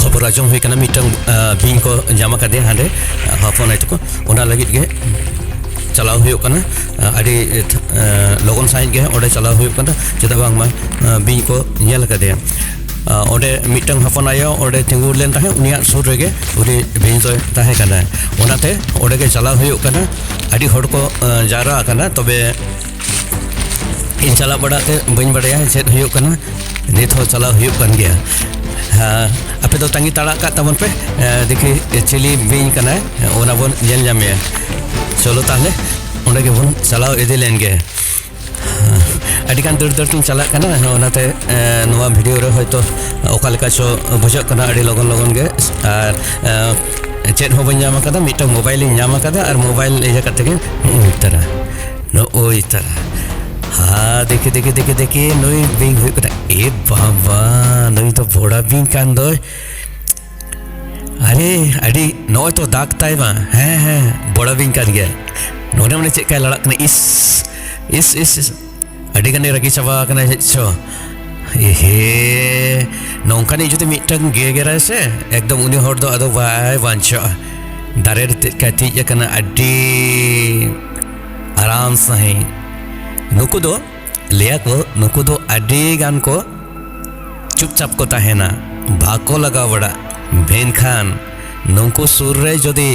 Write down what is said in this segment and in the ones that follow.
ᱠᱷᱚᱵᱚᱨ ᱟᱸᱡᱚᱢ ᱦᱩᱭ ᱠᱟᱱᱟ ᱢᱤᱫᱴᱟᱝ ᱵᱤᱧ ᱠᱚ ᱧᱟᱢ ᱟᱠᱟᱫᱮ ᱦᱟᱸᱰᱮ ᱦᱚᱯᱚᱱ ᱟᱭ ᱛᱟᱠᱚ ᱚᱱᱟ ᱞᱟᱹᱜᱤᱫ ᱜᱮ ᱪᱟᱞᱟᱣ ᱦᱩᱭᱩᱜ ᱠᱟᱱᱟ ᱟᱹᱰᱤ ᱞᱚᱜᱚᱱ ᱥᱟᱺᱦᱤᱡ ᱜᱮ ᱚᱸᱰᱮ ᱪᱟᱞᱟᱣ ᱦᱩᱭᱩᱜ ᱠᱟᱱᱟ ᱪᱮᱫᱟᱜ ᱵᱟᱝᱢᱟ ᱵᱤᱧ ᱠᱚ ᱧᱮᱞ ᱟᱠᱟᱫᱮᱭᱟ ᱚᱸᱰᱮ ᱢᱤᱫᱴᱟᱝ ᱦᱚᱯᱚᱱ ᱟᱭᱳ ᱚᱸᱰᱮ ᱛᱤᱸᱜᱩ ᱞᱮᱱ ᱛᱟᱦᱮᱸᱫ ᱩᱱᱤᱭᱟᱜ ᱥᱩᱨ ᱨᱮᱜᱮ ᱩᱱᱤ ᱵᱤᱧ ᱫᱚᱭ ᱛᱟᱦᱮᱸ ᱠᱟᱱᱟ ᱚᱱᱟᱛᱮ ᱚᱸᱰᱮ ᱜᱮ ᱪᱟᱞᱟᱣ ᱦᱩᱭᱩᱜ ᱠᱟᱱᱟ ᱟᱹᱰᱤ ᱦᱚᱲ ᱠᱚ ᱡᱟᱣᱨᱟ ᱟᱠᱟᱱᱟ ᱛᱚᱵᱮ ᱤᱧ ᱪᱟᱞᱟᱜ ᱵᱟᱲᱟ ᱛᱮ ᱵᱟᱹᱧ ᱵᱟᱲᱟᱭᱟ ᱪᱮᱫ ᱦᱩᱭᱩᱜ ᱠᱟᱱᱟ ᱱᱤᱛ ᱦᱚᱸ ᱪᱟᱞᱟᱣ ᱦᱩᱭᱩᱜ ᱠᱟᱱ ᱜᱮᱭᱟ ᱟᱯᱮ ᱫᱚ ᱛᱟᱺᱜᱤ ᱛᱟᱲᱟᱜ ᱠᱟᱜ ᱛᱟᱵᱚᱱ ᱯᱮ ᱫᱮᱠᱷᱤ ᱪᱤᱞᱤ ᱵᱤᱧ ᱠᱟᱱᱟᱭ ᱚᱱᱟ ᱵᱚᱱ ᱧᱮᱞ ᱧᱟᱢᱮᱭᱟ ᱪᱚᱞᱚ ᱛᱟᱦᱞᱮ ᱚᱸᱰᱮ ᱜᱮᱵᱚᱱ ᱪᱟᱞᱟᱣ ᱤᱫᱤ ᱞᱮᱱ ᱜᱮ ᱟᱹᱰᱤᱜᱟᱱ ᱫᱟᱹᱲ ᱫᱟᱹᱲ ᱛᱤᱧ ᱪᱟᱞᱟᱜ ᱠᱟᱱᱟ ᱚᱱᱟᱛᱮ ᱱᱚᱣᱟ ᱵᱷᱤᱰᱤᱭᱳ ᱨᱮ ᱦᱚᱭᱛᱳ ᱚᱠᱟ ᱞᱮᱠᱟ ᱪᱚ ᱵᱩᱡᱷᱟᱹᱜ ᱠᱟᱱᱟ ᱟᱹᱰᱤ ᱞᱚᱜᱚᱱ ᱞᱚᱜᱚᱱ ᱜᱮ ᱟᱨ ᱪᱮᱫ ᱦᱚᱸ ᱵᱟᱹᱧ ᱧᱟᱢ ᱟᱠᱟᱫᱟ ᱢᱤᱫᱴᱟᱝ ᱢᱳᱵᱟᱭᱤᱞᱤᱧ ᱧᱟᱢ ᱟᱠᱟᱫᱟ ᱟᱨ ᱢᱳᱵᱟᱭᱤᱞ ᱤᱭᱟᱹ ᱠᱟᱛᱮ ᱜᱮ ᱩᱛᱟᱹᱨᱟ ᱱᱚᱜᱼᱚᱭ ᱛᱟᱨᱟ ᱦᱟ ᱫᱮᱠᱷᱮ ᱫᱮᱠᱷᱮ ᱫᱮᱠᱷᱮ ᱫᱮᱠᱷᱮ ᱱᱩᱭ ᱵᱤᱧ ᱦᱩᱭᱩᱜ ᱠᱟᱱᱟ ᱮ ᱵᱟᱵᱟ ᱱᱩᱭ ᱫᱚ ᱵᱚᱲᱟ ᱵᱤᱧ ᱠᱟᱱ ᱫᱚᱭ ᱟᱨᱮ ᱟᱹᱰᱤ ᱱᱚᱜᱼᱚᱭ ᱛᱚ ᱫᱟᱜᱽ ᱛᱟᱭ ᱢᱟ ᱦᱮᱸ ᱦᱮᱸ ᱵᱚᱲᱟ ᱵᱤᱧ ᱠᱟᱱ ᱜᱮᱭᱟ ᱱᱚᱰᱮ ᱢᱟᱱᱮ ᱪᱮᱫ ᱠᱟᱭ ᱞᱟᱲᱟᱜ ᱠᱟᱱᱟ ᱤᱥ ᱤᱥ ᱤᱥ ᱤᱥ ᱟᱹᱰᱤ ᱜᱟᱱᱮ ᱨᱟᱹᱜᱤ ᱪᱟᱵᱟ ᱟᱠᱟᱱᱟ ᱪᱮᱫ ᱪᱚ ᱮᱦᱮ ᱱᱚᱝᱠᱟᱱᱤᱡ ᱡᱩᱫᱤ ᱢᱤᱫᱴᱟᱝ ᱜᱮᱜᱮᱨᱟᱭ ᱥᱮ ᱮᱠᱫᱚᱢ ᱩᱱᱤ ᱦᱚᱲ ᱫᱚ ᱟᱫᱚ ᱵᱟᱭ ᱵᱟᱧᱪᱟᱜᱼᱟ ᱫᱟᱨᱮ ᱨᱮ ᱛᱮᱫ ᱠᱟᱭ ᱛᱤᱡ ᱟᱠᱟᱱᱟ ᱟᱹᱰᱤ ᱟᱨᱟᱢ ᱥᱟᱺᱦᱤᱡ ᱱᱩᱠᱩ ᱫᱚ ᱞᱟᱹᱭᱟ ᱠᱚ ᱱᱩᱠᱩ ᱫᱚ ᱟᱹᱰᱤ ᱜᱟᱱ ᱠᱚ ᱪᱩᱯᱪᱟᱯ ᱠᱚ ᱛᱟᱦᱮᱱᱟ ᱵᱟᱠᱚ ᱞᱟᱜᱟᱣ ᱵᱟᱲᱟᱜ ᱢᱮᱱᱠᱷᱟᱱ ᱱᱩᱠᱩ ᱥᱩᱨ ᱨᱮ ᱡᱩᱫᱤ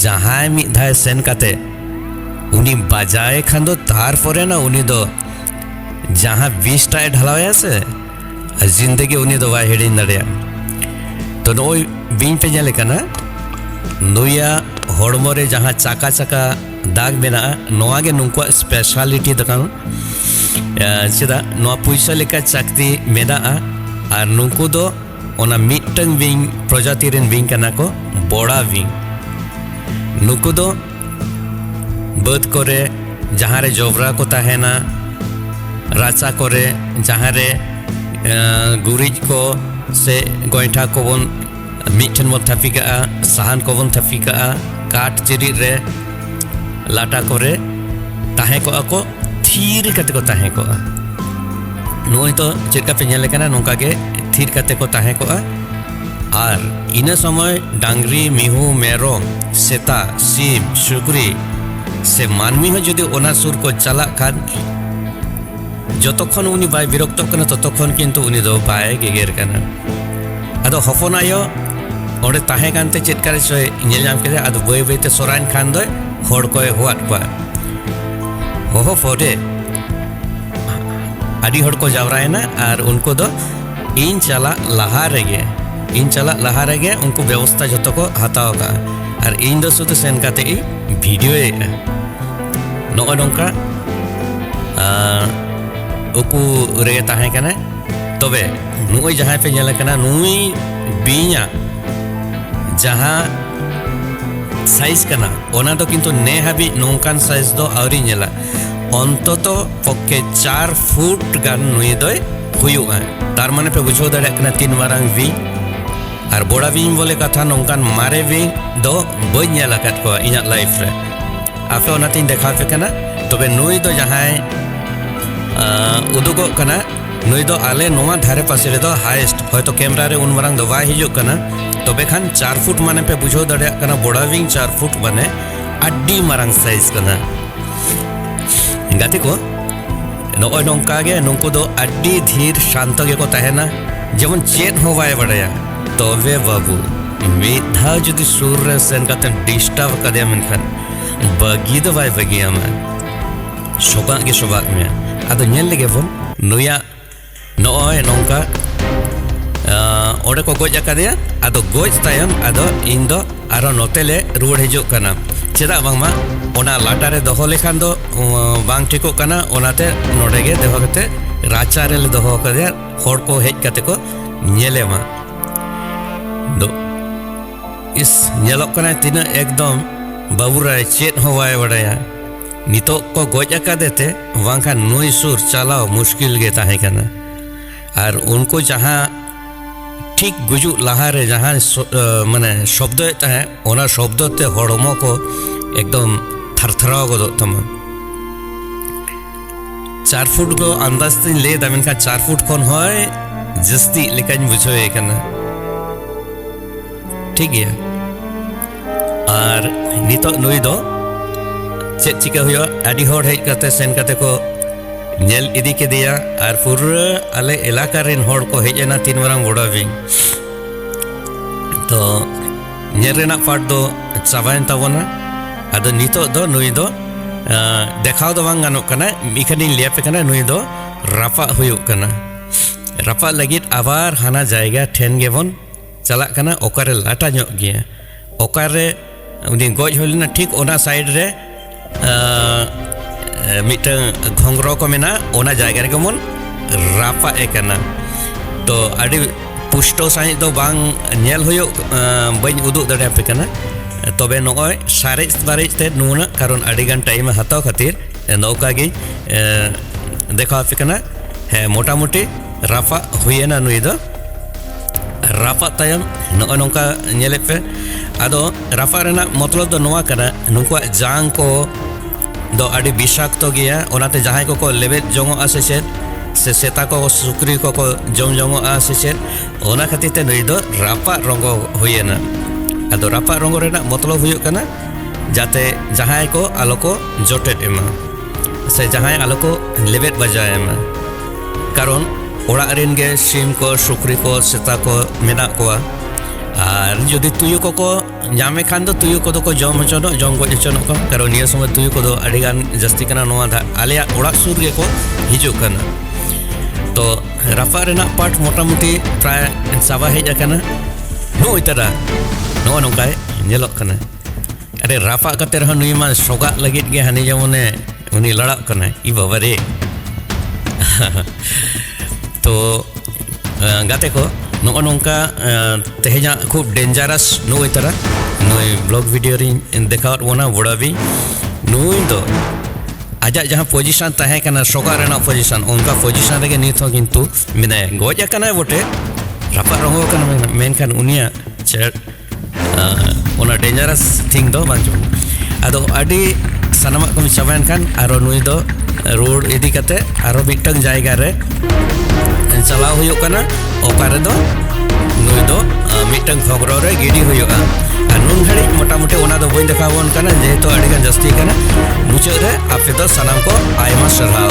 ᱡᱟᱦᱟᱸᱭ ᱢᱤᱫ ᱫᱷᱟᱣ ᱥᱮᱱ ᱠᱟᱛᱮ ᱩᱱᱤ ᱵᱟᱡᱟᱭ ᱠᱷᱟᱱ ᱫᱚ ᱛᱟᱨᱯᱚᱨᱮ ᱱᱟ ᱩᱱᱤ ᱫᱚ ᱡᱟᱦᱟᱸ ᱵᱤᱥᱴᱟᱭ ᱰᱷᱟᱞᱟᱣᱭᱟ ᱥᱮ ᱡᱤᱱᱫᱮᱜᱤ ᱩᱱᱤ ᱫᱚ ᱵᱟᱭ ᱦᱤᱲᱤᱧ ᱫᱟᱲᱮᱭᱟᱜᱼᱟ ᱛᱚ ᱱᱚᱜᱼᱚᱭ ᱵᱤᱧ ᱯᱮ ᱧᱮᱞᱮ ᱠᱟᱱᱟ ᱱᱩᱭᱟᱜ ᱦᱚᱲᱢᱚ ᱨᱮ ᱡᱟᱦᱟᱸ ᱪᱟᱠᱟ ᱪᱟᱠᱟ ᱫᱟᱜᱽ ᱢᱮᱱᱟᱜᱼᱟ ᱱᱚᱣᱟ ᱜᱮ ᱱᱩᱠᱩᱣᱟᱜ ᱥᱯᱮᱥᱟᱞᱤᱴᱤ ᱫᱚ ᱠᱟᱱᱟ ᱪᱮᱫᱟᱜ ᱱᱚᱣᱟ ᱯᱩᱭᱥᱟᱹ ᱞᱮᱠᱟ ᱪᱟᱠᱛᱤ ᱢᱮᱱᱟᱜᱼᱟ ᱟᱨ ᱱᱩᱠᱩ ᱫᱚ ᱚᱱᱟ ᱢᱤᱫᱴᱟᱝ ᱵᱤᱧ ᱯᱨᱚᱡᱟᱛᱤ ᱨᱮᱱ ᱵᱤᱧ ᱠᱟᱱᱟ ᱠᱚ ᱵᱚᱲᱟ ᱵᱤᱧ ᱱᱩᱠᱩ ᱫᱚ ᱵᱟᱹᱫᱽ ᱠᱚᱨᱮ ᱡᱟᱦᱟᱸ ᱨᱮ ᱡᱚᱵᱽᱨᱟ ᱠᱚ ᱛᱟᱦᱮᱱᱟ ᱨᱟᱪᱟ ᱠᱚᱨᱮ ᱡᱟᱦᱟᱸ ᱨᱮ ᱜᱩᱨᱤᱡ ᱠᱚ ᱥᱮ ᱜᱚᱭᱴᱷᱟ ᱠᱚᱵᱚᱱ ᱢᱤᱫᱴᱷᱮᱱ ᱵᱚᱱ ᱛᱷᱟᱯᱤ ᱠᱟᱜᱼᱟ ᱥᱟᱦᱟᱱ ᱠᱚᱵᱚᱱ ᱛᱷᱟᱯᱤ ᱠᱟᱜᱼᱟ ᱠᱟᱴ ᱪᱮᱨᱤᱡ ᱨᱮ ᱞᱟᱴᱟ ᱠᱚᱨᱮ ᱛᱟᱦᱮᱸ ᱠᱚᱜᱼᱟ ᱠᱚ ᱛᱷᱤᱨ ᱠᱟᱛᱮ ᱠᱚ ᱛᱟᱦᱮᱸ ᱠᱚᱜᱼᱟ ᱱᱚᱜᱼᱚᱭ ᱛᱚ ᱪᱮᱫ ᱞᱮᱠᱟ ᱯᱮ ᱧᱮᱞ ᱠᱟᱱᱟ ᱱᱚᱝᱠᱟ ᱜᱮ ᱛᱷᱤᱨ ᱠᱟᱛᱮ ᱠᱚ ᱛᱟᱦᱮᱸ ᱠᱚᱜᱼᱟ ᱟᱨ ᱤᱱᱟᱹ ᱥᱚᱢᱚᱭ ᱰᱟᱝᱨᱤ ᱢᱤᱦᱩ ᱢᱮᱨᱚᱢ ᱥᱮᱛᱟ ᱥᱤᱢ ᱥᱩᱠᱨᱤ ᱥᱮ ᱢᱟᱹᱱᱢᱤ ᱦᱚᱸ ᱡᱩᱫᱤ ᱚᱱᱟ ᱥᱩᱨ ᱠᱚ ᱪᱟᱞᱟᱜ ᱠᱷᱟᱱ ᱡᱚᱛᱚᱠᱷᱚᱱ ᱩᱱᱤ ᱵᱟᱭ ᱵᱤᱨᱚᱠᱛᱚᱜ ᱠᱟᱱᱟ ᱛᱚᱛᱚᱠᱷᱚᱱ ᱠᱤᱱᱛᱩ ᱩᱱᱤ ᱫᱚ ᱵᱟᱭ ᱜᱮᱜᱮᱨ ᱠᱟᱱᱟ ᱟᱫᱚ ᱦᱚᱯᱚᱱ ᱟᱭᱳ ᱚᱸᱰᱮ ᱛᱟᱦᱮᱸ ᱠᱟᱱᱛᱮ ᱪᱮᱫ ᱠᱟᱨᱮ ᱪᱚᱭ ᱧᱮᱞ ᱧᱟᱢ ᱠᱮᱫᱟ ᱟᱫᱚ ᱵᱟᱹᱭ ᱵᱟᱹᱭᱛᱮ ᱥᱚᱨᱟᱭᱮᱱ ᱠᱷᱟᱱ ᱫᱚᱭ ᱦᱚᱲ ᱠᱚᱭ ᱦᱚᱦᱚᱣᱟᱫ ᱠᱚᱣᱟ ᱦᱚᱦᱚ ᱯᱚᱨᱮ ᱟᱹᱰᱤ ᱦᱚᱲ ᱠᱚ ᱡᱟᱣᱨᱟᱭᱮᱱᱟ ᱟᱨ ᱩᱱᱠᱩ ᱫᱚ ᱤᱧ ᱪᱟᱞᱟᱜ ᱞᱟᱦᱟ ᱨᱮᱜᱮ ᱤᱧ ᱪᱟᱞᱟᱜ ᱞᱟᱦᱟ ᱨᱮᱜᱮ ᱩᱱᱠᱩ ᱵᱮᱵᱚᱥᱛᱟ ᱡᱚᱛᱚ ᱠᱚ ᱦᱟᱛᱟᱣ ᱠᱟᱜᱼᱟ ᱟᱨ ᱤᱧ ᱫᱚ ᱥᱩᱫᱷᱩ ᱥᱮᱱ ᱠᱟᱛᱮ ᱤᱧ ᱵᱷᱤᱰᱤᱭᱳ ᱮᱫᱼᱟ ᱱᱚᱜᱼᱚ ᱱᱚᱝᱠᱟ ᱩᱠᱩ ᱨᱮᱜᱮ ᱛᱟᱦᱮᱸ ᱠᱟᱱᱟᱭ ᱛᱚᱵᱮ ᱱᱩᱭ ᱡᱟᱦᱟᱸᱭ ᱯᱮ ᱧᱮᱞ ᱠᱟᱱᱟ ᱱᱩᱭ ᱵᱤᱧᱟᱜ ᱡᱟᱦᱟᱸ ᱥᱟᱭᱤᱡᱽ ᱠᱟᱱᱟ ᱚᱱᱟ ᱫᱚ ᱠᱤᱱᱛᱩ ᱱᱮ ᱦᱟᱹᱵᱤᱡ ᱱᱚᱝᱠᱟᱱ ᱥᱟᱭᱤᱡᱽ ᱫᱚ ᱟᱹᱣᱨᱤ ᱧᱮᱞᱟ ᱚᱱᱛᱚᱛᱚ ᱯᱚᱠᱠᱷᱮ ᱪᱟᱨ ᱯᱷᱩᱴ ᱜᱟᱱ ᱱᱩᱭ ᱫᱚᱭ ᱦᱩᱭᱩᱜᱼᱟ ᱛᱟᱨ ᱢᱟᱱᱮ ᱯᱮ ᱵᱩᱡᱷᱟᱹᱣ ᱫᱟᱲᱮᱭᱟᱜ ᱠᱟᱱᱟ ᱛᱤᱱ ᱢᱟᱨᱟᱝ ᱵᱤᱧ ᱟᱨ ᱵᱚᱲᱟ ᱵᱤᱧ ᱵᱚᱞᱮ ᱠᱟᱛᱷᱟ ᱱᱚᱝᱠᱟᱱ ᱢᱟᱨᱮ ᱵᱤᱧ ᱫᱚ ᱵᱟᱹᱧ ᱧᱮᱞ ᱟᱠᱟᱫ ᱠᱚᱣᱟ ᱤᱧᱟᱹᱜ ᱞᱟᱭᱤᱯᱷ ᱨᱮ ᱟᱯᱮ ᱚᱱᱟᱛᱤᱧ ᱫᱮᱠᱷᱟᱣ ᱯᱮ ᱠᱟᱱᱟ ᱛᱚᱵᱮ ᱱᱩᱭ ᱫᱚ ᱡᱟᱦᱟᱸᱭ ᱩᱫᱩᱜᱚᱜ ᱠᱟᱱᱟ ᱱᱩᱭ ᱫᱚ ᱟᱞᱮ ᱱᱚᱣᱟ ᱫᱷᱟᱨᱮ ᱯᱟᱥᱮ ᱨᱮᱫᱚ ᱦᱟᱭᱮᱥᱴ ᱦᱚᱭᱛᱚ ᱠᱮᱢᱨᱟ ᱨᱮ ᱩᱱ ᱢᱟᱨᱟᱝ ᱫᱚ ᱵᱟᱭ ᱦᱤᱡᱩᱜ ᱠᱟᱱᱟ ᱛᱚᱵᱮ ᱠᱷᱟᱱ ᱪᱟᱨ ᱯᱷᱩᱴ ᱢᱟᱱᱮ ᱯᱮ ᱵᱩᱡᱷᱟᱹᱣ ᱫᱟᱲᱮᱭᱟᱜ ᱠᱟᱱᱟ ᱵᱚᱲᱟ ᱵᱤᱧ ᱪᱟᱨ ᱯᱷᱩᱴ ᱢᱟᱱᱮ ᱟᱹᱰᱤ ᱢᱟᱨᱟᱝ ᱥᱟᱭᱤᱡᱽ ᱠᱟᱱᱟ ᱜᱟᱛᱮ ᱠᱚ ᱱᱚᱜᱼᱚᱭ ᱱᱚᱝᱠᱟ ᱜᱮ ᱱᱩᱠᱩ ᱫᱚ ᱟᱹᱰᱤ ᱫᱷᱤᱨ ᱥᱟᱱᱛᱚ ᱜᱮᱠᱚ ᱛᱟᱦᱮᱱᱟ ᱡᱮᱢᱚᱱ ᱪᱮᱫ ᱦᱚᱸ ᱵᱟᱭ ᱵᱟᱰᱟᱭᱟ ᱛᱚᱵᱮ ᱵᱟᱹᱵᱩ ᱢᱤᱫ ᱫᱷᱟᱣ ᱡᱩᱫᱤ ᱥᱩᱨ ᱨᱮ ᱥᱮᱱ ᱠᱟᱛᱮᱢ ᱰᱤᱥᱴᱟᱨᱵ ᱠᱟᱫᱮᱭᱟ ᱢᱮᱱᱠᱷᱟᱱ ᱵᱟᱹᱜᱤ ᱫᱚ ᱵᱟᱭ ᱵᱟᱹᱜᱤᱭᱟᱢᱟ ᱥᱚᱵᱟᱜ ᱜᱮ ᱥᱚᱵᱟᱜ ᱢᱮᱭᱟ ᱟᱫᱚ ᱧᱮᱞ ᱞᱮᱜᱮ ᱵᱚᱱ ᱱᱩᱭᱟᱜ ᱱᱚᱜᱼᱚᱭ ᱱᱚᱝᱠᱟ ᱚᱸᱰᱮ ᱠᱚ ᱜᱚᱡ ᱟᱠᱟᱫᱮᱭᱟ ᱟᱫᱚ ᱜᱚᱡ ᱛᱟᱭᱚᱢ ᱟᱫᱚ ᱤᱧ ᱫᱚ ᱟᱨᱚ ᱱᱚᱛᱮ ᱞᱮ ᱨᱩᱣᱟᱹᱲ ᱦᱤᱡᱩᱜ ᱠᱟᱱᱟ ᱪᱮᱫᱟᱜ ᱵᱟᱝᱢᱟ ᱚᱱᱟ ᱞᱟᱴᱟ ᱨᱮ ᱫᱚᱦᱚ ᱞᱮᱠᱷᱟᱱ ᱫᱚ ᱵᱟᱝ ᱴᱷᱤᱠᱚᱜ ᱠᱟᱱᱟ ᱚᱱᱟᱛᱮ ᱱᱚᱰᱮ ᱜᱮ ᱫᱚᱦᱚ ᱠᱟᱛᱮ ᱨᱟᱪᱟ ᱨᱮᱞᱮ ᱫᱚᱦᱚ ᱠᱟᱫᱮᱭᱟ ᱦᱚᱲ ᱠᱚ ᱦᱮᱡ ᱠᱟᱛᱮ ᱠᱚ ᱧᱮᱞᱮ ᱢᱟ ᱫᱚ ᱤᱥ ᱧᱮᱞᱚᱜ ᱠᱟᱱᱟᱭ ᱛᱤᱱᱟᱹᱜ ᱮᱠᱫᱚᱢ ᱵᱟᱹᱵᱩ ᱨᱟᱭ ᱪᱮᱫ ᱦᱚᱸ ᱵᱟᱭ ᱵᱟᱰᱟᱭᱟ ᱱᱤᱛᱚᱜ ᱠᱚ ᱜᱚᱡ ᱟᱠᱟᱫᱮ ᱛᱮ ᱵᱟᱝᱠᱷᱟᱱ ᱱᱩᱭ ᱥᱩᱨ ᱪᱟᱞᱟᱣ ᱢᱩᱥᱠᱤᱞ ᱜᱮ ᱛᱟᱦᱮᱸ ᱠᱟᱱᱟ ᱟᱨ ᱩᱱᱠᱩ ᱡᱟᱦᱟᱸ ᱴᱷᱤᱠ ᱜᱩᱡᱩᱜ ᱞᱟᱦᱟᱨᱮ ᱡᱟᱦᱟᱸ ᱢᱟᱱᱮ ᱥᱚᱵᱫᱚᱭᱮᱫ ᱛᱟᱦᱮᱸᱫ ᱚᱱᱟ ᱥᱚᱵᱫᱚ ᱛᱮ ᱦᱚᱲᱢᱚ ᱠᱚ ᱮᱠᱫᱚᱢ ᱛᱷᱟᱨᱛᱷᱟᱨᱟᱣ ᱜᱚᱫᱚᱜ ᱛᱟᱢᱟ ᱪᱟᱨ ᱯᱷᱩᱴ ᱫᱚ ᱟᱱᱫᱟᱡᱽ ᱛᱤᱧ ᱞᱟᱹᱭᱫᱟ ᱢᱮᱱᱠᱷᱟᱱ ᱪᱟᱨ ᱯᱷᱩᱴ ᱠᱷᱚᱱ ᱦᱚᱸᱭ ᱡᱟᱹᱥᱛᱤ ᱞᱮᱠᱟᱧ ᱵᱩᱡᱷᱟᱹᱣᱮ ᱠᱟᱱᱟ ᱴᱷᱤᱠ ᱜᱮᱭᱟ ᱟᱨ ᱱᱤᱛᱚᱜ ᱱᱩᱭ ᱫᱚ ᱪᱮᱫ ᱪᱤᱠᱟᱹ ᱦᱩᱭᱩᱜᱼᱟ ᱟᱹᱰᱤ ᱦᱚᱲ ᱦᱮᱡ ᱠᱟᱛᱮ ᱥᱮᱱ ᱠᱟᱛᱮ ᱠᱚ ᱧᱮᱞ ᱤᱫᱤ ᱠᱮᱫᱮᱭᱟ ᱟᱨ ᱯᱩᱨᱟᱹ ᱟᱞᱮ ᱮᱞᱟᱠᱟ ᱨᱮᱱ ᱦᱚᱲ ᱠᱚ ᱦᱮᱡ ᱮᱱᱟ ᱛᱤᱱ ᱢᱟᱨᱟᱝ ᱵᱚᱰᱟ ᱵᱤᱧ ᱛᱚ ᱧᱮᱞ ᱨᱮᱱᱟᱜ ᱯᱟᱴ ᱫᱚ ᱪᱟᱵᱟᱭᱮᱱ ᱛᱟᱵᱚᱱᱟ ᱟᱫᱚ ᱱᱤᱛᱚᱜ ᱫᱚ ᱱᱩᱭ ᱫᱚ ᱫᱮᱠᱷᱟᱣ ᱫᱚ ᱵᱟᱝ ᱜᱟᱱᱚᱜ ᱠᱟᱱᱟ ᱢᱤᱠᱷᱟᱱᱤᱧ ᱞᱟᱹᱭᱟᱯᱮ ᱠᱟᱱᱟ ᱱᱩᱭ ᱫᱚ ᱨᱟᱯᱟᱜ ᱦᱩᱭᱩᱜ ᱠᱟᱱᱟ ᱨᱟᱯᱟᱜ ᱞᱟᱹᱜᱤᱫ ᱟᱵᱟᱨ ᱦᱟᱱᱟ ᱡᱟᱭᱜᱟ ᱴᱷᱮᱱ ᱜᱮᱵᱚᱱ ᱪᱟᱞᱟᱜ ᱠᱟᱱᱟ ᱚᱠᱟᱨᱮ ᱞᱟᱴᱟ ᱧᱚᱜ ᱜᱮᱭᱟ ᱚᱠᱟᱨᱮ ᱩᱱᱤ ᱜᱚᱡ ᱦᱩᱭ ᱞᱮᱱᱟ ᱴᱷᱤᱠ ᱚᱱᱟ ᱥᱟᱭᱤᱰ ᱨᱮ ᱢᱤᱫᱴᱟᱝ ᱜᱷᱚᱝᱜᱨᱚ ᱠᱚ ᱢᱮᱱᱟᱜᱼᱟ ᱚᱱᱟ ᱡᱟᱭᱜᱟ ᱨᱮᱜᱮ ᱵᱚᱱ ᱨᱟᱯᱟᱜ ᱮ ᱠᱟᱱᱟ ᱛᱚ ᱟᱹᱰᱤ ᱯᱩᱥᱴᱚ ᱥᱟᱺᱦᱤᱡ ᱫᱚ ᱵᱟᱝ ᱧᱮᱞ ᱦᱩᱭᱩᱜ ᱵᱟᱹᱧ ᱩᱫᱩᱜ ᱫᱟᱲᱮᱭᱟᱯᱮ ᱠᱟᱱᱟ ᱛᱚᱵᱮ ᱱᱚᱜᱼᱚᱭ ᱥᱟᱨᱮᱡ ᱵᱟᱨᱮᱡ ᱛᱮ ᱱᱩᱱᱟᱹᱜ ᱠᱟᱨᱚᱱ ᱟᱹᱰᱤᱜᱟᱱ ᱴᱟᱭᱤᱢ ᱦᱟᱛᱟᱣ ᱠᱷᱟᱹᱛᱤᱨ ᱱᱚᱝᱠᱟ ᱜᱮ ᱫᱮᱠᱷᱟᱣ ᱟᱯᱮ ᱠᱟᱱᱟ ᱦᱮᱸ ᱢᱚᱴᱟᱢᱩᱴᱤ ᱨᱟᱯᱟᱜ ᱦᱩᱭᱮᱱᱟ ᱱᱩᱭ ᱫᱚ ᱨᱟᱯᱟᱜ ᱛᱟᱭᱚᱢ ᱱᱚᱜᱼᱚ ᱱᱚᱝᱠᱟ ᱧᱮᱞᱮᱫ ᱯᱮ ᱟᱫᱚ ᱨᱟᱯᱟᱜ ᱨᱮᱱᱟᱜ ᱢᱚᱛᱞᱚᱵ ᱫᱚ ᱱᱚᱣᱟ ᱠᱟᱱᱟ ᱱᱩᱠᱩᱣᱟᱜ ᱡᱟᱝ ᱠᱚ ᱫᱚ ᱟᱹᱰᱤ ᱵᱤᱥᱟᱠᱛᱚ ᱜᱮᱭᱟ ᱚᱱᱟᱛᱮ ᱡᱟᱦᱟᱸᱭ ᱠᱚᱠᱚ ᱞᱮᱵᱮᱫ ᱡᱚᱝᱚᱜᱼᱟ ᱥᱮ ᱪᱮᱫ ᱥᱮ ᱥᱮᱛᱟ ᱠᱚ ᱥᱩᱠᱨᱤ ᱠᱚᱠᱚ ᱡᱚᱢ ᱡᱚᱝᱚᱜᱼᱟ ᱥᱮ ᱪᱮᱫ ᱚᱱᱟ ᱠᱷᱟᱹᱛᱤᱨ ᱛᱮ ᱱᱩᱭ ᱫᱚ ᱨᱟᱯᱟᱜ ᱨᱚᱝᱜᱚ ᱦᱩᱭᱮᱱᱟ ᱟᱫᱚ ᱨᱟᱯᱟᱜ ᱨᱚᱝᱜᱚ ᱨᱮᱱᱟᱜ ᱢᱚᱛᱞᱚᱵ ᱦᱩᱭᱩᱜ ᱠᱟᱱᱟ ᱡᱟᱛᱮ ᱡᱟᱦᱟᱸᱭ ᱠᱚ ᱟᱞᱚ ᱠᱚ ᱡᱚᱴᱮᱫ ᱮᱢᱟ ᱥᱮ ᱡᱟᱦᱟᱸᱭ ᱟᱞᱚ ᱠᱚ ᱞᱮᱵᱮᱫ ᱵᱟᱡᱟᱭ ᱢᱟ ᱠᱟᱨᱚᱱ ᱚᱲᱟᱜ ᱨᱮᱱ ᱜᱮ ᱥᱤᱢ ᱠᱚ ᱥᱩᱠᱨᱤ ᱠᱚ ᱥᱮᱛᱟ ᱠᱚ ᱢᱮᱱᱟᱜ ᱠᱚᱣᱟ ᱟᱨ ᱡᱩᱫᱤ ᱛᱩᱭᱩ ᱠᱚᱠᱚ ᱧᱟᱢᱮ ᱠᱷᱟᱱ ᱫᱚ ᱛᱩᱭᱩ ᱠᱚᱫᱚ ᱠᱚ ᱡᱚᱢ ᱦᱚᱪᱚᱱᱚᱜ ᱡᱚᱢ ᱜᱚᱡ ᱦᱚᱪᱚᱱᱚᱜ ᱠᱚ ᱠᱟᱨᱚᱱ ᱱᱤᱭᱟᱹ ᱥᱚᱢᱚᱭ ᱛᱩᱭᱩ ᱠᱚᱫᱚ ᱟᱹᱰᱤ ᱜᱟᱱ ᱡᱟᱹᱥᱛᱤ ᱠᱟᱱᱟ ᱱᱚᱣᱟ ᱫᱷᱟ ᱟᱞᱮᱭᱟᱜ ᱚᱲᱟᱜ ᱥᱩᱨ ᱨᱮᱜᱮ ᱠᱚ ᱦᱤᱡᱩᱜ ᱠᱟᱱᱟ ᱛᱚ ᱨᱟᱯᱟᱜ ᱨᱮᱱᱟᱜ ᱯᱟᱴ ᱢᱚᱴᱟᱢᱩᱴᱤ ᱯᱨᱟᱭ ᱪᱟᱵᱟ ᱦᱮᱡ ᱟᱠᱟᱱᱟ ᱱᱚᱜᱼᱚᱭ ᱛᱟᱨᱟ ᱱᱚᱜᱼᱚ ᱱᱚᱝᱠᱟᱭ ᱧᱮᱞᱚᱜ ᱠᱟᱱᱟ ᱟᱨᱮ ᱨᱟᱯᱟᱜ ᱠᱟᱛᱮ ᱨᱮᱦᱚᱸ ᱱᱩᱭ ᱢᱟ ᱥᱚᱜᱟᱜ ᱞᱟᱹᱜᱤᱫ ᱜᱮ ᱦᱟᱹᱱᱤ ᱡᱮᱢᱚᱱᱮ ᱩᱱᱤ ᱞᱟᱲᱟᱜ ᱠᱟᱱᱟᱭ ᱤ ᱵᱟᱵᱟ ᱨᱮ ᱛᱚ ᱜᱟᱛᱮ ᱠᱚ ᱱᱚᱜᱼᱚ ᱱᱚᱝᱠᱟ ᱛᱮᱦᱮᱧᱟᱜ ᱠᱷᱩᱵ ᱰᱮᱧᱡᱟᱨᱟᱥ ᱱᱩᱭ ᱛᱟᱨᱟ ᱱᱩᱭ ᱵᱞᱚᱜ ᱵᱷᱤᱰᱤᱭᱳ ᱨᱤᱧ ᱫᱮᱠᱷᱟᱣᱟᱫ ᱵᱚᱱᱟ ᱵᱚᱲᱟᱵᱤ ᱱᱩᱭ ᱫᱚ ᱟᱡᱟᱜ ᱡᱟᱦᱟᱸ ᱯᱚᱡᱤᱥᱚᱱ ᱛᱟᱦᱮᱸ ᱠᱟᱱᱟ ᱥᱚᱜᱟᱜ ᱨᱮᱱᱟᱜ ᱯᱚᱡᱤᱥᱚᱱ ᱚᱱᱠᱟ ᱯᱚᱡᱤᱥᱚᱱ ᱨᱮᱜᱮ ᱱᱤᱛ ᱦᱚᱸ ᱠᱤᱱᱛᱩ ᱢᱮᱱᱟᱭᱟ ᱜᱚᱡ ᱟᱠᱟᱱᱟᱭ ᱵᱚᱴᱮ ᱨᱟᱯᱟᱜ ᱨᱚᱝᱜᱚ ᱠᱟᱱᱟ ᱢᱮᱱᱠᱷᱟᱱ ᱩᱱᱤᱭᱟᱜ ᱚᱱᱟ ᱰᱮᱧᱡᱟᱨᱟᱥ ᱛᱷᱤᱝ ᱫᱚ ᱵᱟᱝ ᱡᱚᱢ ᱟᱫᱚ ᱟᱹᱰᱤ ᱥᱟᱱᱟᱢᱟᱜ ᱠᱚᱢ ᱪᱟᱵᱟᱭᱮᱱ ᱠᱷᱟᱱ ᱟᱨᱚ ᱱᱩᱭ ᱫᱚ ᱨᱩᱣᱟᱹᱲ ᱤᱫᱤ ᱠᱟᱛᱮ ᱟᱨᱚ ᱢᱤᱫᱴᱟᱝ ᱡᱟᱭᱜᱟ ᱨᱮ ᱪᱟᱞᱟᱣ ᱦᱩᱭᱩᱜ ᱠᱟᱱᱟ ᱚᱠᱟ ᱨᱮᱫᱚ ᱱᱩᱭ ᱫᱚ ᱢᱤᱫᱴᱟᱝ ᱠᱷᱚᱵᱨᱚ ᱨᱮ ᱜᱤᱰᱤ ᱦᱩᱭᱩᱜᱼᱟ ᱟᱨ ᱱᱩᱱ ᱜᱷᱟᱹᱲᱤᱡ ᱢᱚᱴᱟᱢᱩᱴᱤ ᱚᱱᱟ ᱫᱚ ᱵᱟᱹᱧ ᱫᱮᱠᱷᱟᱣ ᱵᱚᱱ ᱠᱟᱱᱟ ᱡᱮᱦᱮᱛᱩ ᱟᱹᱰᱤ ᱜᱟᱱ ᱡᱟᱹᱥᱛᱤ ᱠᱟᱱᱟ ᱢᱩᱪᱟᱹᱫ ᱨᱮ ᱟᱯᱮ ᱫᱚ ᱥᱟᱱᱟᱢ ᱠᱚ ᱟᱭᱢᱟ ᱥᱟᱨᱦᱟᱣ